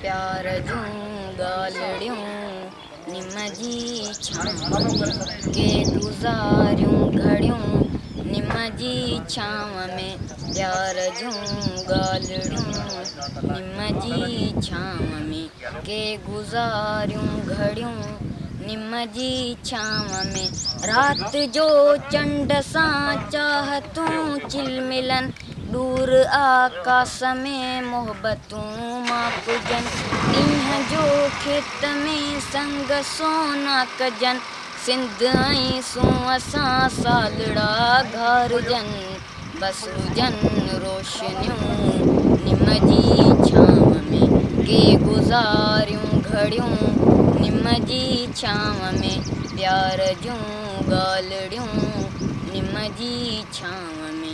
پيار جون ڳالهڙيون نم جي ڇانو ۾، ڪي گذاريون گهڙيون نم جي ڇانو ۾، پيار جون ڳالهڙيون نم جي ڇانو ۾، ڪي گذاريون گهڙيون نم جي ڇانو ۾، رات جو چنڊ سان چاهتون چلملن، ڏور آڪاس ۾ محبتون تون ماپجن ڏينهن جو کيت ۾ سنگ سونا ڪجن سنڌ ۽ سون اسان سالڙا گهارجن بس هجن روشنيون نم جي ڇانو ۾ ڪي گذاريون گهڙيون نم جي ڇانو ۾ پيار جون ڳالهڙيون نم جي ڇانو ۾.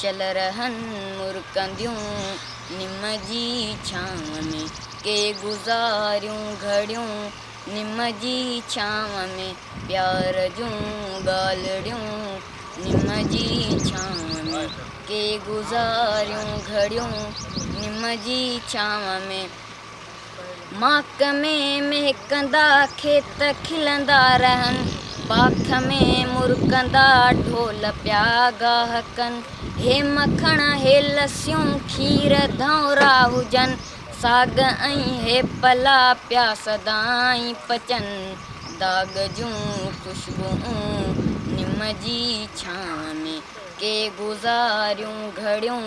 شل رهن مرڪنديون نم جي ڇانو ۾، ڪي گذاريون گهڙيون نم جي ڇانو ۾، پيار جون ڳالهڙيون نم جي ڇانو ۾، ڪي گذاريون گهڙيون نم جي ڇانو ۾. ماک ۾ مهڪندا کيت کلندا رهن، باک ۾ مرڪندا ڍول پيا گاهه ڪن، هي مکڻ هي لسيون کير ڌئونرا هجن، ساڳ ۽ هي پلا پيا سدائين پچن، داغ جون خوشبوئون نم جي ڇانو ۾، ڪي گذاريون گهڙيون.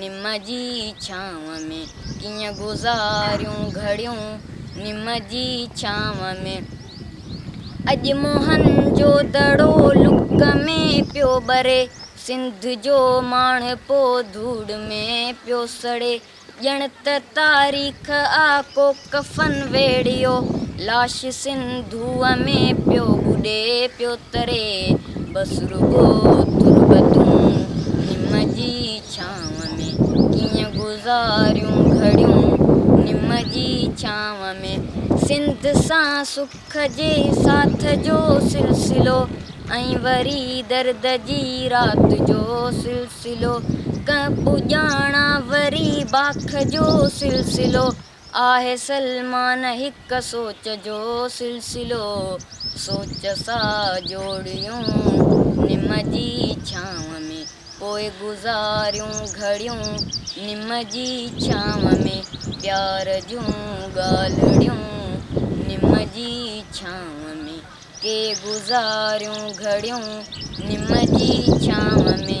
نم جي ڇانو ۾ ڪيئن گذاريون گهڙيون نم جي ڇانو ۾. اڄ موهن جو دڙو لڪ ۾ پيو ٻري، سنڌ جو ماڻهپو ڌوڙ ۾ پيو سڙي، ڄڻ ته تاريخ آ ڪو. ڪفن ويڙهيو لاش سنڌوء ۾ پيو ٻڏي پيو تري بس رڳو تربتون نم جي ڇانو ۾ ڪيئن گذاريون گهڙيون نم جي ڇانو ۾ سنڌ سان سک جي ساٿ جو سلسلو ۽ وري درد جي رات جو سلسلو ڪنهن پڄاڻان وري باک جو سلسلو. آهي سلمان هڪ سوچ جو سلسلو، سوچ سا جوڙيون نم جي ڇانو ۾، پوء گذاريون گهڙيون نم جي ڇانو ۾، پيار جون ڳالهڙيون نم جي ڇانو ۾، ڪي گذاريون گهڙيون نم جي ڇانو ۾.